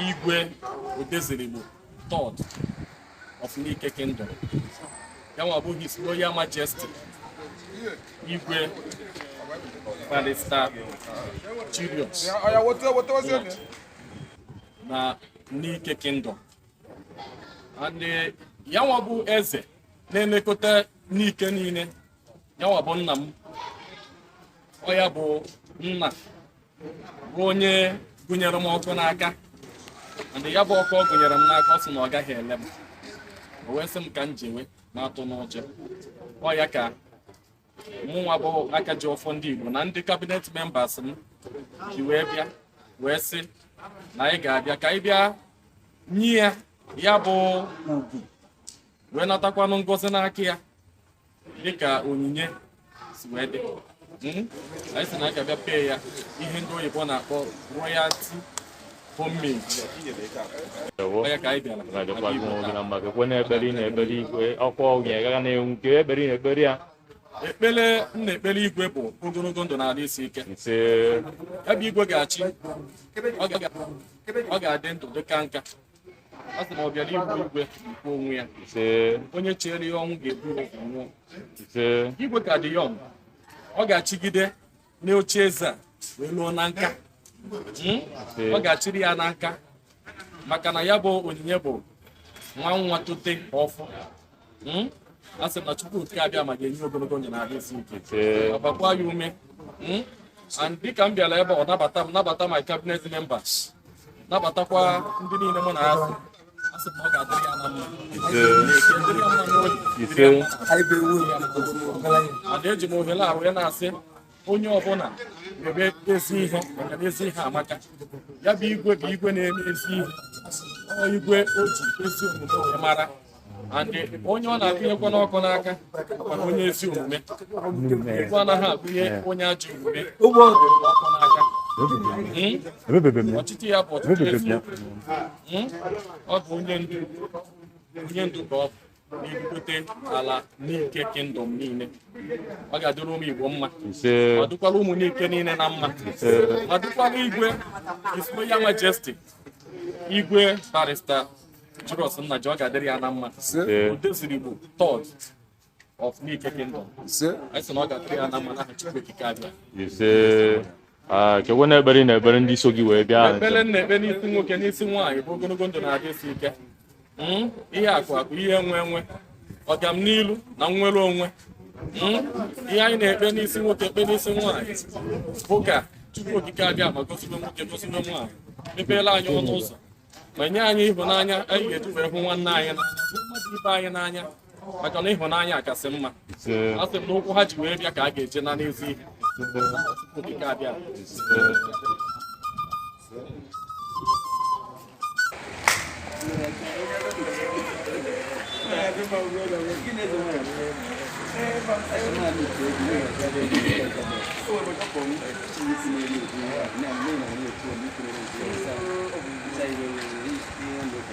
igwe Odezuluigbo third of Nike Kingdom ya nwa bụ His Royal Majesty igwe Barrister Julius na Nike Kingdom and eh, ya nwa bụ eze na-elekọta Nike niile ya nwa bụ nna m ọ ya bụ nna bụ onye gụnyere m ọkụ n'aka and ya bụ ọkụ ọ gụnyere m n'aka ọ sị na ọ gaghị ele m o wee sị m ka m jewe m atụna ụjọ ọ ya ka mụnwa bụ Akajiọfọ ndị Igbo na ndị cabinet members m ji wee bịa wee sị na anyị ga-abịa ka anyị bịa nye ya ya bụ ugwu wee natakwanụ ngozi n'aka ya dịka onyinye si wee dị hmm? anyị sị na anyị ga-abịa pee ya ihe ndị oyibo na-akpọ royalty homage kee ekpere ị na-ekpere igwe ọkwa onye gaga na-enwu nke ekpere ị na-ekpere ya ekpere m na-ekpere igwe bụ ogologo ndụ na arụ isi ike ebe igwe ga-achị ọ ga-adị ndụ dị kaa nka a sị na ọ bịara igbu igwe gbue onwe ya ise onye cheere ya ọnwụ ga-ebu ya ụzọ nwụọ ise igwe ka dị young ọ ga-achịgide n'oche eze a wee luo na nka Hmm? ọ ga-achịrị ya na nka maka na ya bụ onyinye bụ nwa nwa tote ọ fụ hmm? asị m na Chukwu okike abịama ga-enye ya ogologo ndụ na arụ isi ike gbakwa ya ume hmm? and dịka m bịara ebe a ọ nabata m nabata my cabinet members nabatakwa ndị niile mụ na ha so a sị na ọ ga-adịrị ya na mma and eji m ohere a wee na-asị onye ọbụla mebe ezi ihe maka na ezi ihe amaka ya bụ igwe bụ igwe na-eme ezi ihe igwe e ji ezi omume mara and onye ọ na-agụnyekwanụ ọkụ n'aka mana onye ezi omume igwe anaghị agụnye onye ajọ omume ọkụ n'aka hmm? ọchịchị ya bụ ọchịchị eziokwu hmm? ọ bụ onye ndu onye ndu ka ọ bụ na-ebugote ala Nike Kingdom niile ọ ga-adịrị ụmụ Igbo mma ọ dịkwara ụmụ Nike niile na mma ọ dịkwara igwe His Royal Majesty igwe Barrister Julius Nnaji ọ ga-adịrị ya na mma Odezuluigbo third of Nike Kingdom anyị sị na ọ ga-adịrị ya na mma n'aha Chukwu okike abịa Ah, kekwe na ekpere na-ekpere ndị so gị wee bịa ekpere na-ekpe n'isi nwoke n'isi nwaanyị bụ ogologo ndụ na ahụ isi ike hmm? ihe akụ akụ ihe enwe enwe ọganilu na nnwere onwe hmm? ihe anyị na-ekpe n'isi nwoke ekpe n'isi nwaanyị bụ ka Chukwu okike abịama gọzibe nwoke gọzibe nwaanyị mepeela anyị ọnụ ụzọ ma nye anyị ịhụnanya anyị ga-eji wee hụ nwanne anyị n'anya hụ mmadụ ibe anyị n'anya maka na ịhụnanya kasị mma asị m na ụkwụ ha ji wee bịa ka ha ga-eji naa n'ezi ihe Chukwu okike abịa Thank you.